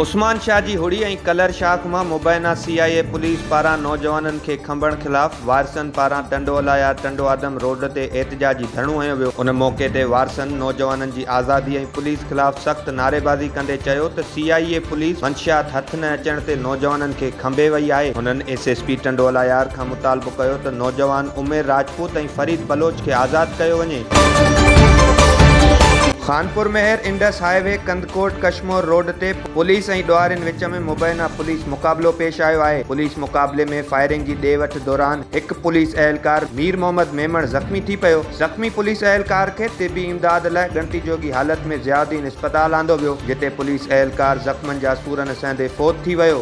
عثمان شاهه جي هڙي ۽ ڪلر شاخ مان مبينا سي آء اي پوليس پاران نوجوانن کي کنڀڻ خلاف وارثن پاران ٽنڊوالايار ٽنڊوآدم روڊ تي احتجاجي ڌرڻو هنيو ويو، ان موقعي تي وارثن نوجوانن جي آزادي پوليس خلاف سخت نعريبازي ڪندي چيو ته سي آء اي پوليس منشيات هٿ نه اچڻ تي نوجوانن کي کنڀي وئي آهي. هنن ايس ايس پي ٽنڊوالهيار کان مطالبو ڪيو ته نوجوان عمير راجپوت ۽ فريد بلوچ کي آزاد ڪيو وڃي. Khanpur Mehar Indus highway Kandhkot Kashmore road تي پوليس ۽ ڏوهارين وچ ۾ مبينا پوليس مقابلو پيش آيو آهي، پوليس مقابلي ۾ فائرنگ جي ڏي وٺ دوران هڪ پوليس اهلڪار مير محمد ميمڻ زخمي ٿي پيو، زخمي پوليس اهلڪار کي طبي امداد لاء ڳڻتي جوڳي حالت ۾ ضياء الدين اسپتال آندو ويو، جتي پوليس اهلڪار زخمن جا سورن سهندي فوت ٿي ويو.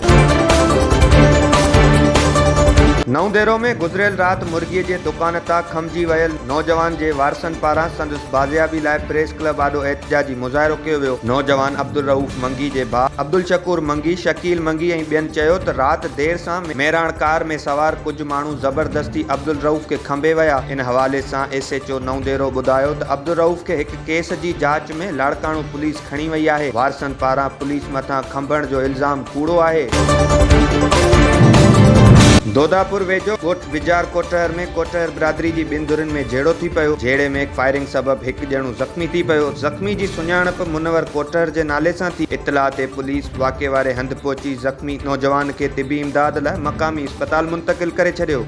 نئون ديرو ۾ گذريل رات مرغي جي دڪان تان کنڀجي ويل نوجوان جي وارثن پاران سندس بازيابي لاء پريس ڪلب آڏو احتجاجي مظاهرو ڪيو ويو، نوجوان عبدالرئوف منگي جي ڀاء عبدالشڪور منگي، شڪيل منگي ۽ ٻين چيو ته رات دير سان ميراڻ ڪار ۾ سوار ڪجهه ماڻهو زبردستي عبدالرئوف کي کنڀي ويا، ان حوالي سان S H O Naudero ٻڌايو ته عبدالرئوف کي هڪ ڪيس جي جاچ ۾ لاڙڪاڻو پوليس کڻي وئي آهي. وارثن پاران پوليس مٿان کنڀڻ جو الزام ڪوڙو آهي. دوداپور ويجهو ڳوٺ بجار ڪوٽهر ۾ ڪوٽهر برادري جي ٻن ڌرين ۾ جهيڙو ٿي پيو، جهيڙي ۾ فائرنگ سبب هڪ ڄڻو زخمي ٿي پيو، زخمي جي سڃاڻپ منور ڪوٽهر جي نالي سان ٿي، اطلاع تي پوليس واقعي واري هنڌ پهچي زخمي نوجوان کي طبي امداد لاء مقامي اسپتال منتقل ڪري ڇڏيو.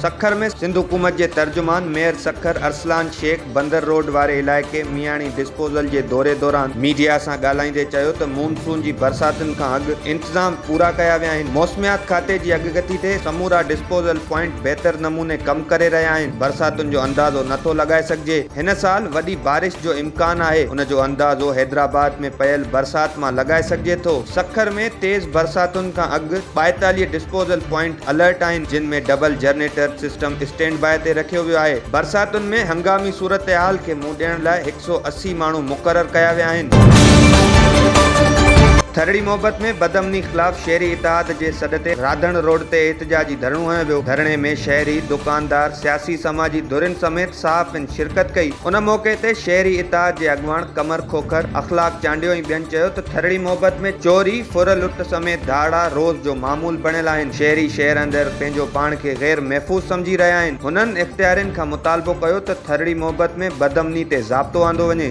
سکر ۾ سنڌ حڪومت جي ترجمان ميئر سکر ارسلان شيخ، بندر روڊ واري علائقي مياڻي ڊسپوزل جي دوري دوران ميڊيا سان ڳالهائيندي چيو ته مون سون جي برساتن کان اڳ انتظام پورا ڪيا ويا آهن موسميات کاتي جي اڳڪٿي تي سمورا ڊسپوزل پوائنٽ بهتر نموني ڪم ڪري رهيا آهن برساتن جو اندازو نه ٿو لڳائي سگهجي هن سال وڏي بارش جو امڪان آهي ان جو اندازو حيدرآباد ۾ پيل برسات مان لڳائي سگهجي ٿو سکر ۾ تيز برساتن کان اڳ ٻائيتاليهه ڊسپوزل پوائنٽ الرٽ آهن جن ۾ double generator system standby تي رکيو ويو آهي برساتن ۾ هنگامي صورتحال کي منهن ڏيڻ لاء هڪ سؤ اسي ماڻهو مقرر ڪيا ويا آهن. ٿرڙي محبت ۾ بدامني خلاف شهري اتحاد جي سڏ تي راڌڻ روڊ تي احتجاجي ڌرڻو هنيو ويو ڌرڻي ۾ شهري، دڪاندار، سياسي سماجي ڌرين سميت صحافين، شرڪت ڪئي. ان موقعي تي شهري اتحاد جي اڳواڻ قمر کوکر، اخلاق چانڊيو ۽ ٻين چيو ته ٿرڙي محبت ۾ چوري، ڦر لٽ سميت ڌاڙا روز جو معمول بڻيل آهن، شهري شهر اندر پنهنجو پاڻ کي غير محفوظ سمجهي رهيا آهن، هنن اختيارين کان مطالبو ڪيو ته ٿرڙي محبت ۾ بدامني تي ضابطو آندو وڃي.